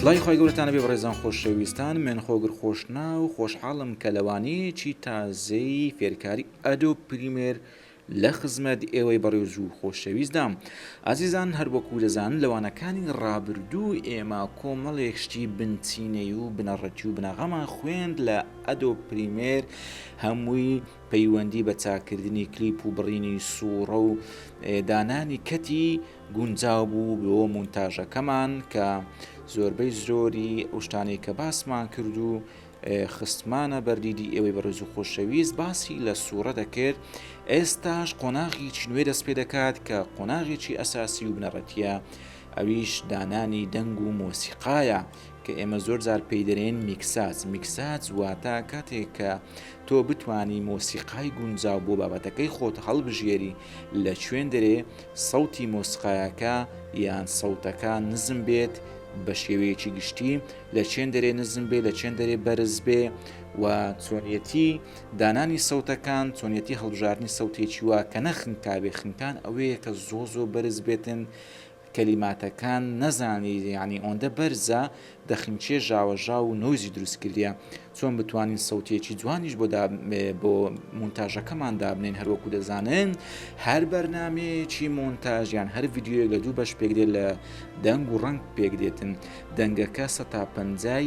سڵی خۆی گەورەتانە بێ بڕێزان خۆشەویستان من خۆگر خۆشنا و خۆشحاڵم کە لەوانەیەکی تازەی فێرکاری ئەدۆ پریمێر لە خزمەت ئێوەی بەڕێز و خۆشەویستدام ئازیزان هەر وەکو دەزان لەوانەکانی ڕابردوو ئێمە کۆمەڵێک شتی بنچینەی و بنەڕەتی و بناغەمان خوێند لە ئەدۆب پریمێر هەمووی پەیوەندی بە چاککردنی کلیپ و بڕینی سووڕە و دانانی کەتی گونجاو بوو بۆ مونتاژەکەمان کە زۆربەی زۆری ئەوشتانەی کە باسمان کرد و خستمانە بەردیدی ئێوەی بەڕێز و خۆشەویست باسی لە سوورە دەکرد ئێستاش قۆناغی چنوێ دەست پێ دەکات کە قۆناغێکی ئەساسی و بنەڕەتە ئەویش دانانی دەنگ و مۆسیقاە کە ئێمە زۆر جار پێی دەرێن میکساج میکساج واتە کاتێک کە تۆ بتانی مۆسیقای گونجاو بۆ بابەتەکەی خۆت هەڵبژێری لە شوێن دەرێ سەوتی مۆسقایەکە یان سەوتەکە نزم بێت بە شێوەیەکی گشتی لە چێن دەرێ نزم بێ لە چێن دەرێ بەرز بێ و چۆنیەتی دانانی سەوتەکان چۆنیەتی هەڵبژارنی سەوتێکی وە کە نەخنکاوێ خنکان ئەوەیە کە زۆ زۆ بەرز بێتن کەلیماتەکان نەزانی یەعنی ئۆندە بەرزە دەخنکێ ژاوەژاو و نۆیزی دروست کردیە چۆن بتوانین سەوتیەکی جوانیش بۆ بۆ مونتاژەکەمان دابنێن هەروەکو دەزانن هەر بەرنمەیەکی مۆنتاژ یان هەر یددیوەک لە دوو بەش پێکدێت لە دەنگ و ڕنگ پێکدێتن دەنگەکە سە تا پەنجای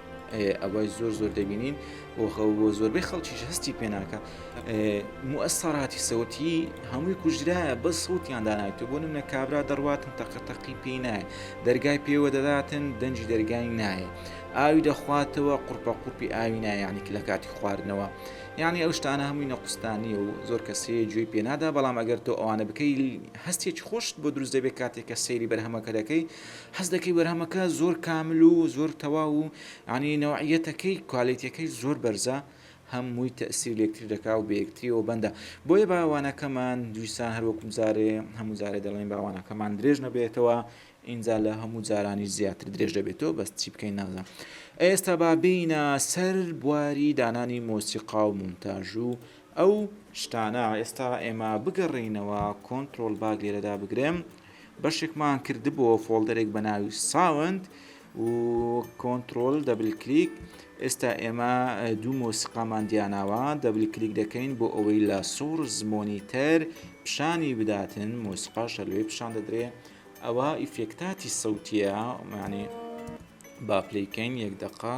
ئەوە زۆر زۆر دەبینین و زۆربەی خەڵکیش هەستی پێناکە موەسەراتی سەوتی هەمووی کوژرایە بە سووتیان دانایێتە بۆ منە کابرا دەڕاتن تەقەتەقی پێی نایە دەرگای پێوە دەداتن دەنجی دەرگای نایە ئاوی دەخواتەوە قورپە قورپی ئاوی نایانی لە کاتی خواردنەوە یعنی ئەو شتانە هەمووی نەقستانی و زۆر کەسێ گوێی پێنادا بەڵام ئەگەر تۆ ئەوانە بکەی هەستێکی خۆشت بۆ دروست دەبێت کاتێک کە سەیری بەرهەمەکە دەکەی حەز دەکەی بەرهەمەکە زۆر کامل و زۆر تەواو و یانی نەوعیەتەکەی کوالێتیەکەی زۆر بەرزە هە مووی تەسیر لەکتری دەکا و بەیەکتریەوە بەندە بۆیە باوانەکەمان دویسان هەروەکم جارێ هەموو جارێ دەڵێن باوانەکەمان درێژ نەبێتەوە ئینجا لە هەموو جارانی زیاتر درێژ دەبێتەوە بەس چی بکەین نازان ئێستا با بینە سەر بواری دانانی مۆسیقا و مونتاژ و ئەو شتانە ئێستا ئێمە بگەڕینەوە کۆنتترۆل باگ لێرەدا بگرم بەشێکمان کردبۆوە فۆڵدەرێک بە ناوی ساوند و کۆنترۆل دەبل کلیک ئێستا ئێمە دوو مۆسیقامان دیاناوە دەبل کلیک دەکەین بۆ ئەوەی لە سۆرز مۆنیتەر پیشانی بداتن مۆسیقا شەلوێ پیشان دەدرێ ئەوە ئیفێکتاتی سەوتیە معنی با پلیکەین یەک دقا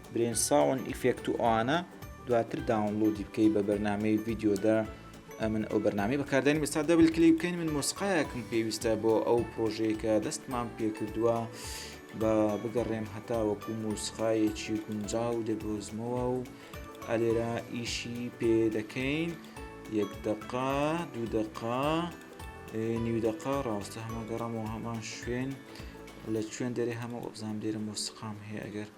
برێن ساوند ئیفێکت و ئەوانە دواتر داونلۆدی بکەی بە بەرنمەی ڤیددیۆدا من ئەو بەرنامی بەکاردانی بەستا دەبل کلی بکەین من مۆسقایەکم پێویستە بۆ ئەو پرۆژەیەکە دەستمان پێکردووە بە بگەڕێم هەتا وەکو مۆسقایەکی گونجا و دەدۆزمەوە و ئەلێرا ئیشی پێ دەکەین یەک دەقا دوو دەقا نیو دەقا ڕاستە هەمە گەڕەمەوە هەمان شوێن لە شوێن دەرێ هەمە ئۆبزان لێرە مۆسقام هەیە ئەگەر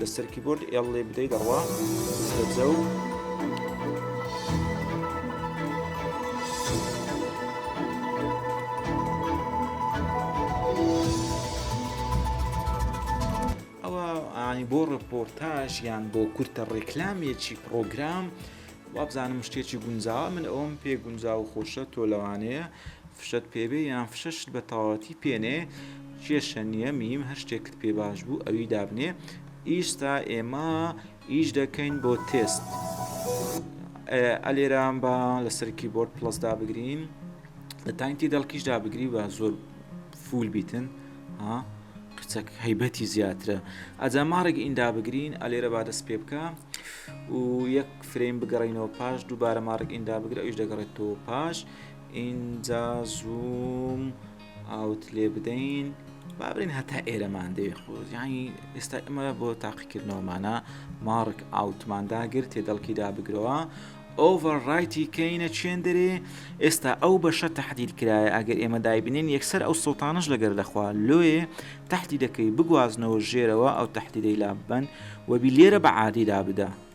لەسەر کیبۆرد ئێڵ لێ بدەی دەڕوا زەبزە و ئەوانی بۆ ڕپۆرتاژ یان بۆ کورتە ڕێکلامێکی پرۆگرام وابزانم شتێکی گونجاوە من ئەوم پێ گونجاو خۆشە تۆ لەوانەیە فشەت پێ بێ یان فشە شت بە تەواوەتی پێنێ کێشە نییە میم هەر شتێکت پێ باش بوو ئەوی دابنێ ئیستا ئێمە ئیش دەکەین بۆ تێست ئەلێران بە لەسەر کیبۆرد پلس دابگرین لە تاینتی دەڵکیش دابگری بە زۆر فول بیتن ها قچەک هەیبەتی زیاترە ئەجا ماڕێک ئیندا بگرین ئەلێرە با دەست پێ بکە و یەک فرەیم بگەڕینەوە پاش دووبارە ماڕێک ئیندا بگرە ئەوش دەگەڕێتەوە پاش ئینجا زووم ئاوت لێ بدەین با بڵێن هەتا ئێرەمان دەوێت خۆ یانی ئێستا ئەمە بۆ تاقیکردنەوەمانە ماڕک ئاوتمانداگر تێ دەڵکی دابگرەوە ئۆڤەرڕایتی کەینە چێن دەرێ ئێستا ئەو بەشە تهدید کرایە ئەگەر ئێمە دایبنین یەکسەر ئەو سڵتانش لەگەر دەخوا لۆێ تهدی دەکەی بگوازنەوە ژێرەوە ئەو تهدیدەی لاببەن وەبی لێرە بە عادیدا بدە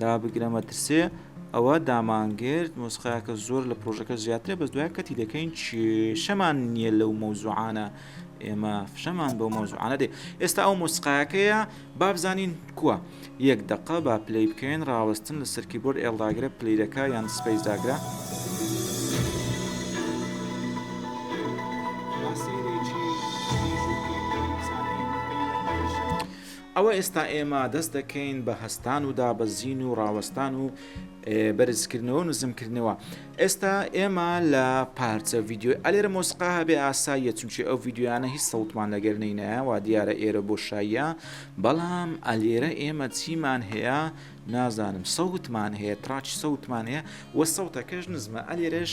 دابگرە مەترسێ ئەوە دامانگرت مۆسقایەکە زۆر لە پرۆژەکە زیاترە بەس دوای کەتی دەکەین کێشەمان نییە لەو مەوزوعانە ئێمە فشەمان بۆ مەوزوعانە دێ ئێستا ئەو مۆسقایەکەیە بابزانین کووە یەک دقە با پلی بکەین ڕاوەستن لە سەرکی بۆر ئێڵداگرە پلیرەکە یان سپیس داگرە. ئەوە ئێستا ئێمە دەست دەکەین بە هەستان و دابەزین و ڕاوەستان و بەرزکردنەوە و نزمکردنەوە ئێستا ئێمە لە پارچە ڤیددیۆی ئەلێرە مۆسقا هەبێ ئاساییە چونچی ئەو ڤیددیویانە هیچ سەوتمان لەگەر نینەوە دیارە ئێرە بۆ شایە بەڵام ئەلێرە ئێمە چیمان هەیە نازانم سەوتمان هەیە تراچ سەوتمان هەیە وە سەوتەکەش نزمە ئەلێرەش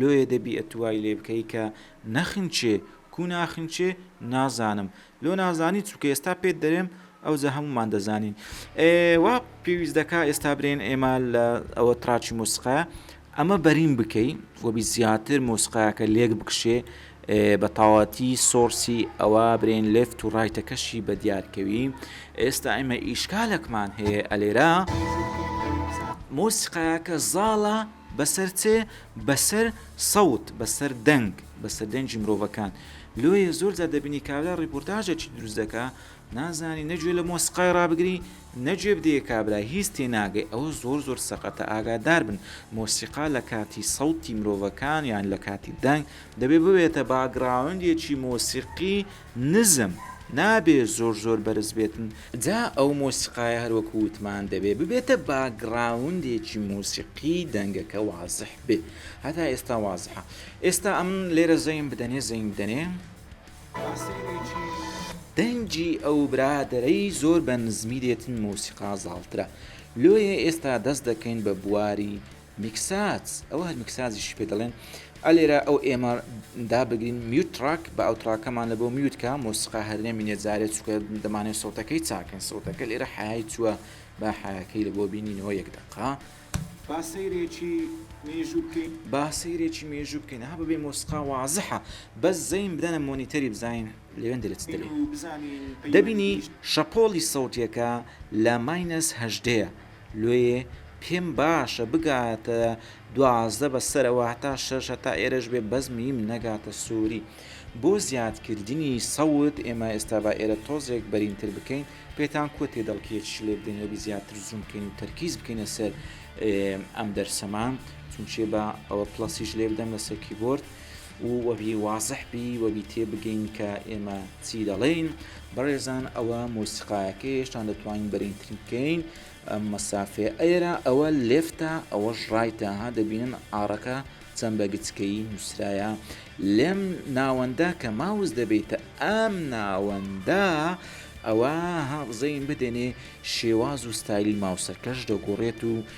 لۆیێ دەبی ئەتو وای لێ بکەی کە نەخنچێ کو ناخنچێ نازانم لۆ نازانی چونکە ئێستا پێت دەرێم ئەوجە هەمومان دەزانین ئێ وا پێویست دەکا ئێستا برێن ئێمە لە ئەوە تراچی مۆسقا ئەمە بەرین بکەی وەبی زیاتر مۆسقاکە لێک بکشێ بە تاواتی سۆرسی ئەوە برێن لفت و ڕایتەکەشی بە دیارکەوی ئێستا ئێمە ئیشکالەکمان هەیە ئەلێرا مۆسیقاکە زاڵە بەسەر چێ؟ بەسەر سەوت، بەسەر دەنگ، بەسەر دەنگی مرۆڤەکان. لۆیە زۆر جار دەبینی کابرا ڕیپۆرتاژێکی دروست دەکا، نازانی نە گوێ لە مۆسیقای ڕابگری، نە گوێ بدەیە کابرا، هیچ تێناگەی. ئەوە زۆر زۆر سەقەتە، ئاگادار بن. مۆسیقا لە کاتی سەوتی مرۆڤەکان یان لە کاتی دەنگ، دەبێ ببێتە باکگراوندێکی مۆسیقی، نزم نابێ زۆر زۆر بەرز بێتن. جا ئەو مۆسیقایە هەر وەکو وتمان دەبێ ببێتە باگڕاوندێکی مۆسیقی دەنگەکە وازح بێ هەتا ئێستا وازحە ئێستا ئەم لێرە زەین بدەنێ زەین بدەنێ. دەنگی ئەو برادەرەی زۆر بە نزمی دێتن مۆسیقا زاڵترە لۆیێ ئێستا دەست دەکەین بە بواری میکساج ئەوە هەر میکساجیشی پێ دەڵێن ئە لێرە ئەو ئێمە دابگرین میوت تراک بە ئەو تراکەمان لە بۆ میوتکە مۆسیقا هەر نەمینێت جارێ چکە دەمانێت سەوتەکەی چاکەین سەوتەکە لێرە حیای چووە با حیاکەی لە بۆ بینینەوە یەک دەقا با سەیرێکی مێژوو بکەین با سەیرێکی مێژوو بکەین ها بەبێ مۆسیقا وازحە بەس زەین بدەنە مۆنیتەری بزانین لەوێن دەرێت چ دەرێ دەبینی شەپۆڵی سەوتیەکە لە ماینەس هەژدەیە لۆیێ پێم باشە بگاتە دوازدە بە سەرە واتا شەش هەتا ئێرەش بێ بەس میم نەگاتە سوری بۆ زیاد کردنی سەوت ئێمە ئێستا با ئێرە تۆزێک بەرین تر بکەین پێتان کوە تێدەڵکێ چ لێ بدەین لەبی زیاتر زوم بکەین و تەرکیز بکەینە سەر ئەم دەرسەمان چونچێ بە ئەوە پلەسیش لێ بدەم لەسەر کیبۆرد و وەبی وازح بی وەبی تێبگەین کە ئێمە چی دەڵێین بەڕێزان ئەوە مۆسیقایەکە هێشتان دەتوانین بەرینتری بکەین مەسافێ ئەێرە ئەوە لێفتە ئەوەش ڕایتە ها دەبینن ئارەکە چەند بە گچکەی نووسرایە لێم ناوەندە کە ماوز دەبێتە ئەم ناوەندە ئەوە هاغزەین بدەنێ شێواز و ستایلی ماوسەکەش دەگۆڕێت و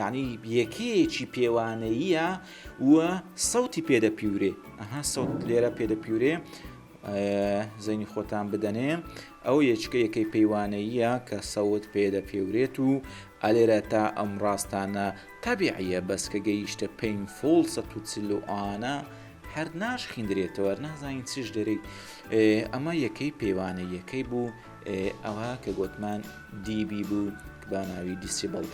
یانی یەکەیەکی پێوانەییە و سەوتی پێدەپیورێ ئەها سەوت لێرە پێدەپیورێ زەینی خۆتان بدەنێ ئەو یەچکە یەکەی پەیوانەییە کە سەوت پێدەپێورێت و ئەلێرە تا ئەم ڕاستانە تابیعە بەس کە گەیشتە پین فۆڵ سە توچلوانە هەر ناش خیندرێتەوە نازانین چش دەرێک ئەمە یەکەی پێوانە یەکەی بوو ئەوە کە گۆتمان دیبی بوو با ناوی دیسیبڵ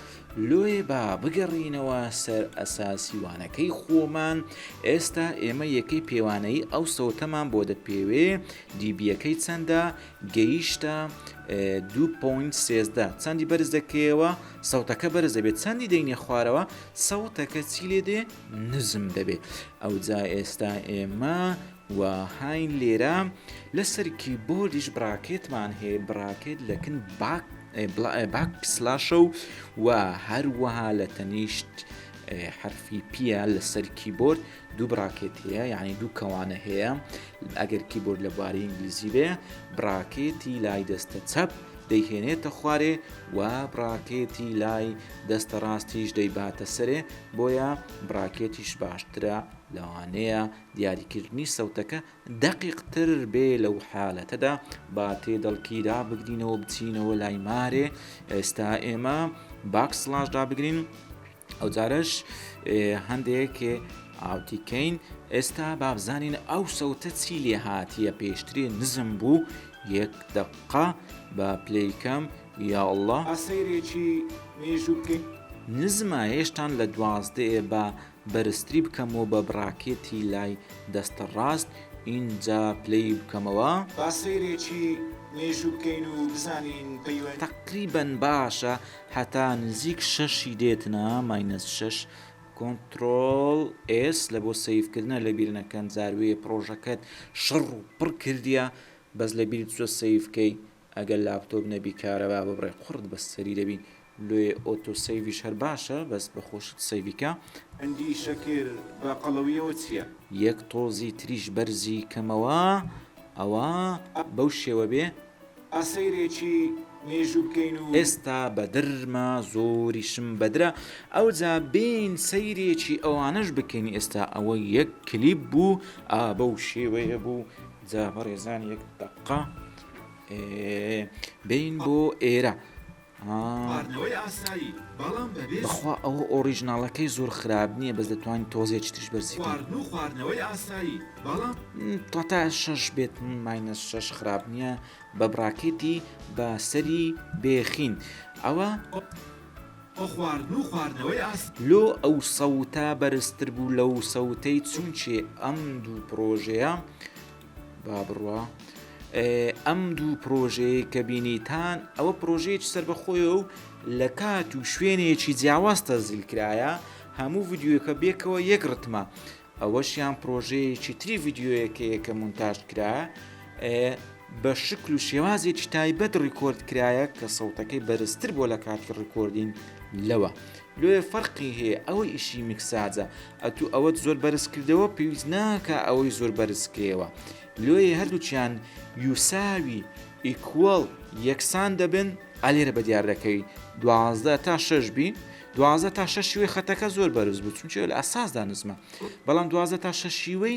لۆیە با بگەڕینەوە سەر ئەساسی وانەکەی خۆمان ئێستا ئێمە یەکەی پێوانەی ئەو سەوتەمان بۆ دەپێوێ دیبیەکەی چەندە گەیشتە 2.13 چەندی بەرز دەکەیەوە سەوتەکە بەرز دەبێت چەندی دەینێ خوارەوە سەوتەکە چی لێ دێ نزم دەبێت ئەو جا ئێستا ئێمە و هاین لێرە لەسەر کیبۆردیش براکێتمان هەیە براکێت لە کن باک باک پسلاشە و و هەروەها لە تەنیشت حرفی پیە لەسەر کیبۆرد دوو براکێت هەیە یعنی دوو کەوانە هەیە ئەگەر کیبۆرد لە بواری ئینگلیزی بێ براکێتی لای دەستە چەپ دەیهێنێتە خوارێ و براکێتی لای دەستە ڕاستیش دەیباتە سەرێ بۆیە براکێتیش باشترە لەوانەیە دیاریکردنی سەوتەکە دەقیقتر بێ لەو حالەتەدا با تێدەڵکی دابگرینەوە بچینەوە لای مارێ ئێستا ئێمە باک سلاش دابگرین ئەو جارش هەندێک ئاوتیکەین ئێستا بابزانین ئەو سەوتە چی لێ هاتیە پێشترێ نزم بوو یەک دقا بە پلیکەم یا الله ئاسەیرێکی مێژوو بکەین نزمە هێشتان لە دوازدەیە بە بەرزتری بکەمەوە بە بڕاکێتی لای دەست ڕاست ئینجا پلەی بکەمەوە. با سەیرێکی مێژوو بکەین و بزانین پەیوە. تەقریبەن باشە هەتا نزیک شەش ی دێتنە ماینەس شەش کۆنتڕۆڵ ئێس لە بۆ سەیڤ کردنە لەبیر نەکەن جار وێ پڕۆژەکەت شڕ و پڕ کردیە بەس لەبیرت چوە سەیڤ کەی ئەگەر لاپتۆپ نەبی کارەبا ببڕێ قوڕت بە سەری دەبین لۆیێ ئۆتۆ سەیڤیش هەر باشە بەس بە خۆشت سەیڤی کە. هەندی شەکر بە قەڵەویەوە چیە. یەک تۆزی تریش بەرزی کەمەوە ئەوە بەو شێوە بێ. ئا سەیرێکی مێژوو بکەین و. ئێستا بەدرمە زۆریشم بەدرە ئەوجا بێین سەیرێکی ئەوانەش بکەین ئێستا ئەوە یەک کلیپ بوو ئا بەو شێوەیە بوو جا بەڕێزان یەک دەقە. بین بۆ ئێرە بەخوا ئەوە ئۆریژناڵەکەی زۆر خراپ نییە بەس دەتوانین تۆزێ چترش بەرزی تا تا شش بێت ماینە شش خراپ نییە بە بڕاکێتی بە سەری بێخین ئەوە لۆ ئەو سەوتە بەرزتر بوو لەو سەوتەی چونچێ ئەم دوو پرۆژەیە با بڕوا ئەم دوو پرۆژەیە کە بینیتان ئەوە پرۆژەیەکی سربەخۆیە و لە کات و شوێنێکی جیاواز تەزیل کرایە هەموو ڤیددیوەکە بێکەوە یەک ڕتمە ئەوەشیان پرۆژەیەکی تری ڤیددیوەکەیە کە مونتاژ کرا بە شکل و شێوازێکی تایبەت ڕیکۆرد کرایە کە سەوتەکەی بەرزتر بۆ لە کاتی ڕیکۆردین لەوە لۆیە فەرقی هەیە ئەوە ئیشی میکساجە ئەتو ئەوەت زۆر بەرز کردەوە پێویست ناکا ئەوەی زۆر بەرز کەیەوە لۆیە هەردووچیان یوساوی ئیکوەڵ یەکسان دەبن ئەلێرە بە دیار دەکەوی دوازدە تا شش بی دوازدە تا شەشیوەی خەتەکە زۆر بەرز بوو چونچێ لە ئەساسدا نزمە بەڵام دوازدە تا شەشیوەی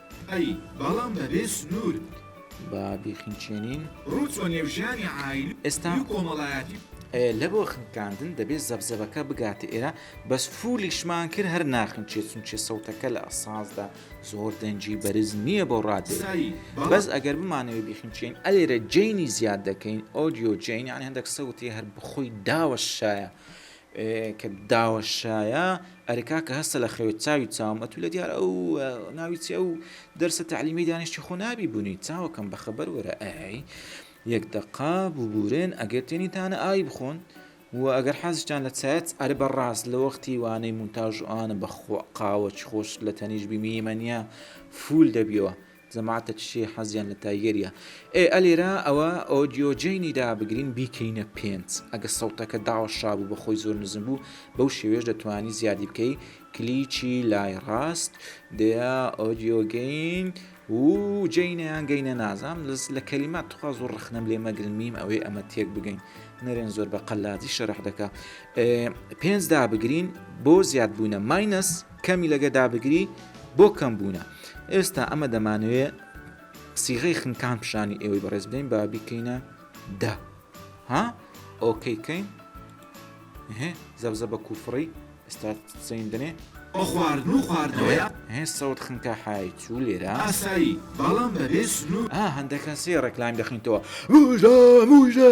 ئەی بەڵام بەبێ سنوور. با بیخنکێنین. ڕووچۆ نێو ژیانی عایلی و کۆمەڵایەتی. ئێ لە بۆ خنکاندن دەبێ زەبزەبەکە بگاتە ئێرە بەس فولیشمان کرد هەر ناخنکێ چونکێ سەوتەکە لە ئەساسدا زۆر دەنگی بەرز نییە بۆ ڕادێری بەس ئەگەر بمانەوێ بیخنکێین ئەلێرە جەینی زیاد دەکەین ئۆدیۆ جەین یانی هەندەک سەوتی هەر بخۆی داوەشایە کە داوەشایە ئەرێ کاکە هەستە لە خەوێ چاوی چاوم ئەتوو لە دیار ئەو ناوی چی ئەو دەرسە تەعلیمی دانیشتی خۆ نابی بوونی چاوەکەم بە خەبەر وەرە ئەی یەک دەقا ببورێن ئەگەر تێنیتانە ئای بخۆن و ئەگەر حەزشتان لە چایەت ئەرە بە ڕاست لە وەختی وانەی مونتاژ ئاە بەخۆ قاوەچ خۆش لە تەنیش بیمیمەنیە فول دەبیەوە جەماعەتە کچێ حەزیان لە تایگەریە. ئێ ئە لێرە ئەوە ئۆدیۆ جەینی دا بگرین بیکەینە پێنج ئەگە سەوتەکە داوەشابوو بەخۆی زۆر نزم بوو بەو شێوەیەش دەتوانی زیادی بکەی کلیکی لای ڕاست دەیە ئۆدیۆ گەین و جەینە یان گەینە نازام لەس لە کەلیمات تخوا زۆر ڕەخنەم لێ مەگرن میم ئەوێ ئەمە تێک بگەین نەرێن زۆر بە قەلادی شەرح دەکە پێنج دابگرین بۆ زیادبوونە ماینەس کەمی لەگە دابگری بۆ کەم بوونە ئێستا ئەمە دەمانەوێ سیغی خنکان پیشانی ئێوەی بەڕێز بدەین با بیکەینە دە ها ئۆکەی کەین زەبزە بە کوفڕی ئێستا سین دەێ خواردن و خواردنەوەیە هێ سەوت خنکە حای چوو لێرە ئاسایی بەڵام بەبێ سنوور هەندەکە سێ ڕێکلایم دەخینتەوە موژە موژە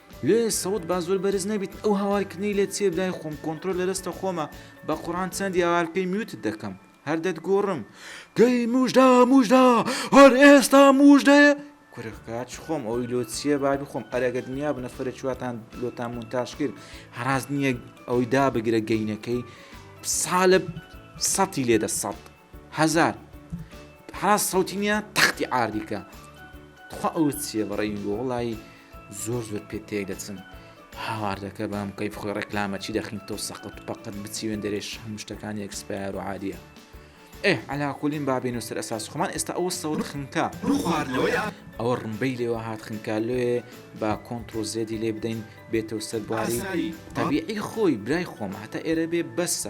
لێ سەوت با زۆر بەرز نەبیت ئەو هاوار کردنەی لێت چیە دای خۆم کۆنترۆل لە دەستە خۆمە بە قوڕان چەندی هاوار بکەی میوتت دەکەم هەر دەتگۆڕم گەی موژدا موژدا هەر ئێستا موژدەیە کورخ کاچ خۆم ئەوی لۆ چیە بابی خۆم ئەرەگە دنیا بە نەفرە چواتان لۆتان مونتاش کرد هەراز نییە ئەوی دا بگرە گەینەکەی سالب سەتی لێدە سەد هەزار حراس سەوتی نیە تەختی ئاردیکە تخوا ئەو چیە بەڕێی بۆ وڵایی زۆر زۆر پێ تێک دەچن هاواردەکە بام کەی خۆی ڕێکلامە چی دەخین تۆ سەقەت پەقەت بچیوێن دەرێش هەموو شتەکان یەکسپار و عادیە ئێ علاکولین بابین و سەر ئەساس خۆمان ئێستا ئەوە سەور خنکە ئەوە ڕمبەی لێوە هات خنکە لێ با کۆنتتر و زێدی لێ بدەین بێتەوە سەرباری تەبیعی خۆی برای خۆم هەتا ئێرە بێ بەسە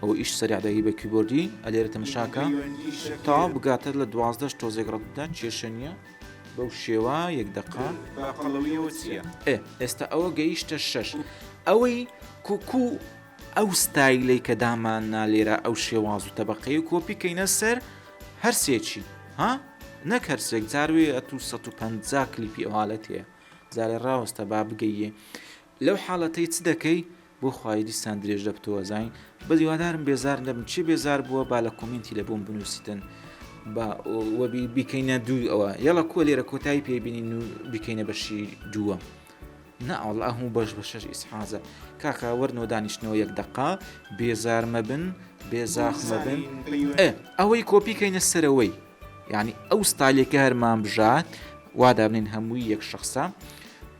ئەوە ئیش سەرەع دەی بە کیبۆردی ئەلێرە تەمەشاکە تا بگاتە لە دوازدەش تۆزێک ڕەتدا کێشە نییە بەو شێوە یەک دەقا باقەڵەویەوە چییە ئێ ئێستا ئەوە گەیشتە شەش ئەوەی کوکو ئەو ستایلی کە دامان نالێرە ئەو شێواز و تەبقەی و کۆپی کەینە سەر هەرسێکی ها نەک هەرسێک جاروێ ئە تو 150 کلیپی ئەوالەت هەیە جارێ ڕاوەستە با بگەیە لەو حالەتەی چ دەکەی؟ بۆ خوایی دیسان درێژ لە بتۆزاین بەس هیوادارم بێزار نەبن کێ بێزار بووە با لە کۆمینتی لە بۆم بنوسیتن با وەبی بیکەینە دووی ئەوە یەڵە کۆ لێرە کۆتایی پێ بینین و بیکەینە بەشی دووە نا ئەوڵ ئەهموو بەش بە شەش ئیسحازە کاکە وەرنەوە دانیشتنەوە یەک دەقا بێزار مەبن بێزاخ مەبن ئەوەی کۆپیکەینە سەرەوەی یعنی ئەو ستالێکە هەرمان بژات وا دابنین هەمووی یەک شخصە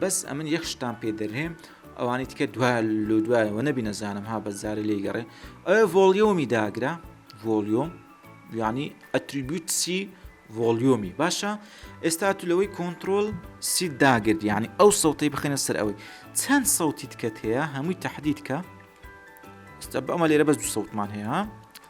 بەس ئەمن یەک شتان پێ دەرێم ئەوانی تکە دو لۆ دوایەوە نەبی نەزانم ها بەزارە لێ گەڕێ ئەوێ ڤۆلیۆمی داگرا ڤۆلیۆم ینی ئەتریبیوتسی ڤۆلیۆمی باشە ئێستا تو لەوەی کۆنتترۆل سی داگرت ینی ئەو سەوتی بخێنە سەر ئەوەی چەند سەوتی تکەت هەیە هەمووی تهدیدکە ئەمە لێرە بەس دو سەوتمان هەیە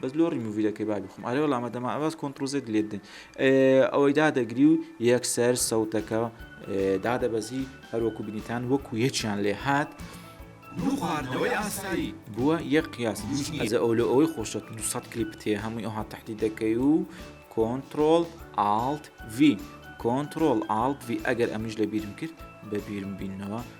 بەس لۆ ڕیموڤی دەکەی با بیخۆم ئەرێ وەڵام مەدەم عەباس کۆنتڕۆڵ زێد دلیت دەین ئەوەی دادەگری و یەکسەر سەوتەکە دادەبەزی هەروەکو بینیتان وەکو یەکیان لێ هات بخواردنەوەی ئاسایی بووە یەک قیاس ئەزە ئەو لە ئەوەی خۆشە 200 کلیپ تێ هەمووی ئەوها تحتی دەکەی و کۆنتترۆل ئالت V کۆنتترۆل ئالت V ئەگەر ئەمیش لە بیرم کرد بە بیرم بینەوە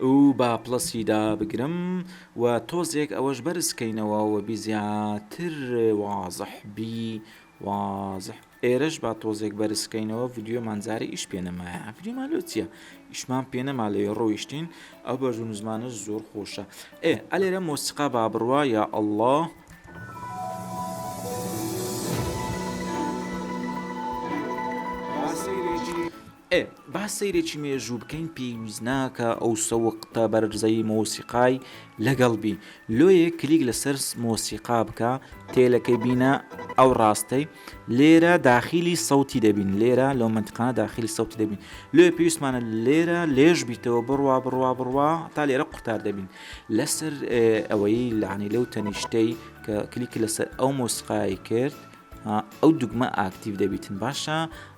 و با پڵەسی دابگرم و تۆزێک ئەوەش بەرز کەینەوە و بی زیاتر وازح بی وازح ئێرەش با تۆزێک بەرز کەینەوە ڤیدیۆمان جارە ئیش پێ نەمایە ڤیدیۆمان لۆ چییە ئیشمان پێ نەما لەوێ ڕۆیشتین ئەو بەژ و نزمانە زۆر خۆشە ئێ ئەلێرە مۆسیقا با بڕوا یا ئەله ئێ با سەیرێکی مێژوو بکەین پێویست ناکا ئەو سەوقتە بەرزەی مۆسیقای لەگەڵ بی لۆیێ کلیک لەسەر مۆسیقا بکە تێلەکەی بینە ئەو ڕاستەی لێرە داخیلی سەوتی دەبین لێرە لەو مەنتقانە داخیلی سەوتی دەبین لۆیێ پێویستمانە لێرە لێژ بیتەوە بڕوا بڕوا بڕوا تا لێرە قوتار دەبین لەسەر ئەوەی لەعنی لەو تەنیشتەی کە کلیک لەسەر ئەو مۆسیقای کرد ئەو دوگمە ئاکتیڤ دەبیتن باشە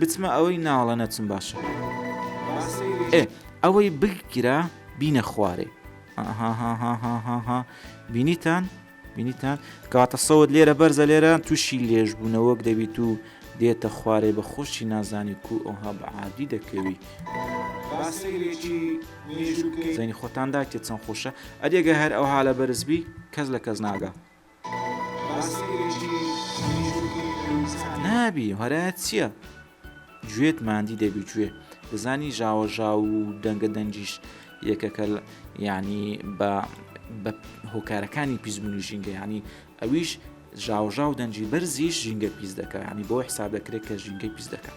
بچمە ئەوەی ناڵە نەچم باشە ئێ ئەوەی بگرە بینە خوارێ هاهاهاهاها بینیتان بینیتان کاتە سەوت لێرە بەرزە لێرە تووشی لێژ بوونەوەک دەبیت و دێتە خوارێ بە خۆشی نازانی کو ئەوها بە عادی دەکەوی زەنی خۆتان داکێت چەند خۆشە ئەدێگە هەر ئەوها لە بەرزبی کەس لە کەس ناگە نابی هەرایەت چییە؟ گوێت ماندی دەبی گوێ دەزانی ژاوە ژاو و دەنگە دەنگیش یەکەکە ینی بە بە هۆکارەکانی پیزمونی ژینگە ینی ئەویش ژاوژاو دەنجی بەرزیش ژینگە پیس دەکە ینی بۆ حساب دەکرێت کە ژینگەی پیس دەکات.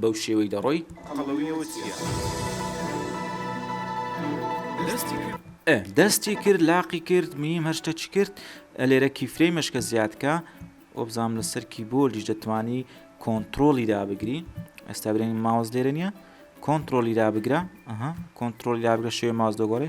بەو شێوەی دەڕۆی قەڵەویەوە چیە دەستی کرد. ئە دەستی کرد لاقی کرد میم هەر شتە چ کرد ئە لێرە کیفرەی مەشکە زیاد کە وەبزانم لەسەر کیبۆردیش دەتوانی کۆنترۆلی دابگری ئێستا برێن ماوەز لێرە نیە کۆنترۆلی دابگرە ئەها کۆنترۆلی دابگرە شێ ماز دەگۆڕێ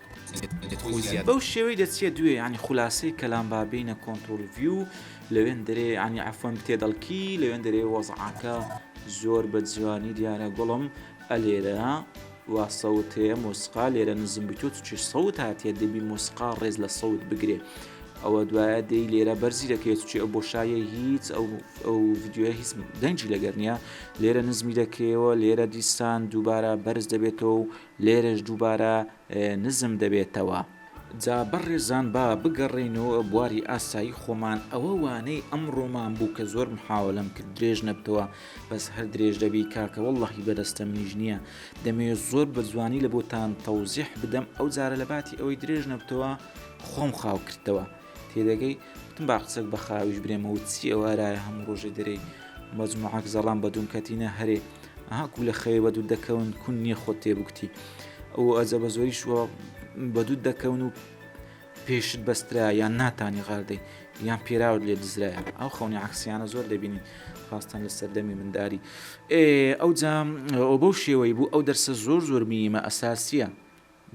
بەو شێوەی دەچیە دوێ یانی خولاسەی کەلام با بینە کۆنترۆل ڤیو لەوێن دەرێ ینی عفن بتێ دەڵکی لەوێن دەرێ وەزعاکە زۆر بە جوانی دیارە گوڵم ئەلێرە وا سەوت هەیە مۆسقا لێرە نزم بتۆ چی سەوت هاتیە دەبی مۆسقا ڕێز لە سەوت بگرێ ئەوە دوایە دەی لێرە بەرزی دەکرێت چی ئەو بۆشایە هیچ ئەو ئەو یددیوە هیچ دەنجی لەگەر نیە لێرە نزمی دەکەیەوە لێرە دیسان دووبارە بەرز دەبێتەوە و لێرەش دووبارە نزم دەبێتەوە. جا بەڕێزان با بگەڕێینەوە بواری ئاسایی خۆمان، ئەوە وانەی ئەمڕۆمان بوو کە زۆر محاوەلەم کرد درێژ نەبتەوە بەس هەر درێژ دەبی کاکە وەڵڵەهی بەدەستە منیش نییە دەمەوێ زۆر بە جوانی لە بۆتان تەوزیح بدەم ئەو جارە لە باتی ئەوەی درێژ نەبتەوە خۆم خاو کردتەوە تێدەگەی وتم با قسەک بە خاویش برێمەوە چی ئەوە ئەرایە هەموو ڕۆژێ دەرێی مەجموعەک زەڵام بە دووم کەتینە هەرێ ئەها کو لە خەوێ بەدوت دەکەون کون نییە خۆت تێبکتی ئەو ئەزە بە زۆری شووە بەدوت دەکەون و پێشت بەسترا یان ناتانی غاردەی یان پێراوت لێ دزرایە ئەو خەونی عکسیانە زۆر دەبینین خواستان لە سەردەمی منداری ئەو جام ئەو بەو شێوەی بوو ئەو دەرسە زۆر زۆر میمە ئەساسیە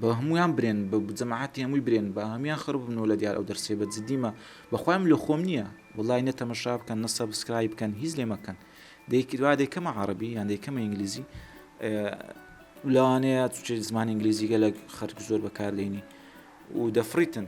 با هەموویان برێن بە جەماعەتی هەمووی برێن با هەموویان خڕ ببنەوە لە دیار ئەو دەرسەی بە جدی مە بەخوای من لۆ خۆم نییە وەڵای نە تەمەشا بکەن نە سەبسکرایب بکەن هیچ لێ مەکەن دەیکرد وا دەیکەمە عەڕەبی یان دەیکەمە ئینگلیزی لەوانەیە چ زمانی ئینگلیزی گەلک خەرک زۆر بەکاردێنی و دەفڕیتن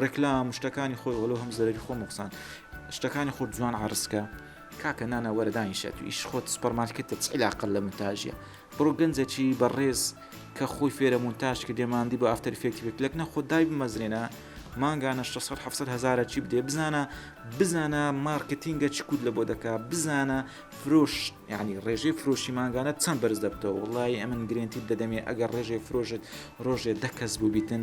ڕێکلام شتەکانی خۆی ئۆلۆ هەم زەرری خۆ مەقسان شتەکانی خۆ جوان عرسکە کاکە نانا وەردانی شێت و ئیش خۆت سپەرمارکێتە چیلاقل لە منتاژە بڕۆ گەنجەکی بەڕێز کە خۆی فێرە مونتاش کە دێماندی بە ئافتەر فێکتی بێت لەکنە خۆ دای بمەزرێنە مانگانە 600 هزارە چی بدێ بزانە بزانە مارکتینگە چ کود لە بۆ دەکا بزانە فرۆش ینی ڕێژەی فرۆشی مانگانە چەند بەرز دەبتەوە وڵی ئەمن گرنتی دەدەمێ ئەگەر ڕێژەی فرۆژت ڕۆژێ دەکەس بوو بیتن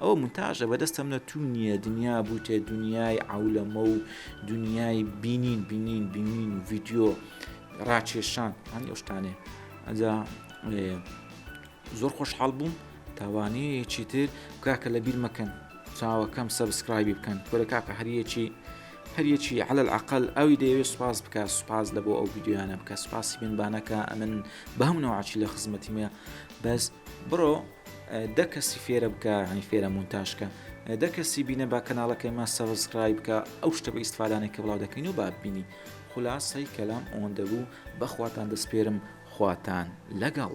ئەوە مونتاژە بەدەستم نە تو نیە دنیا بوتە دنیای عەولەمە و دنیای بینین بینین بینین و ڤیددیو ڕاکێشان هەنی ئەوشتانێ ئەجا زۆر خۆشحاڵ بووم تاوانەیە چیتر کاکە لە بیر مەکەن چاوەکەم سەبسکرایبی بکەن کۆرە کاکە هەریەکی هەریەکی على العقل ئەوی دەیەوێت سوپاس بکە سوپاس لە بۆ ئەو ویددیویانە بکە سوپاسی بنبانەکە ئەمن بە هەمونەوە عچی لە خزمەتیمە بەس بڕۆ دە کەسی فێرە بکە هەنی فێرە مونتاشکە دە کەسی بینە با کەناڵەکەی ما سەبسکرای بکە ئەو شتە بە ئیسفادانێک کە بڵاو دەکەین و بابینی خلاصەی کەلام ئەوەندە بوو بەخواتان دەستپێرم خواتان لەگەڵ.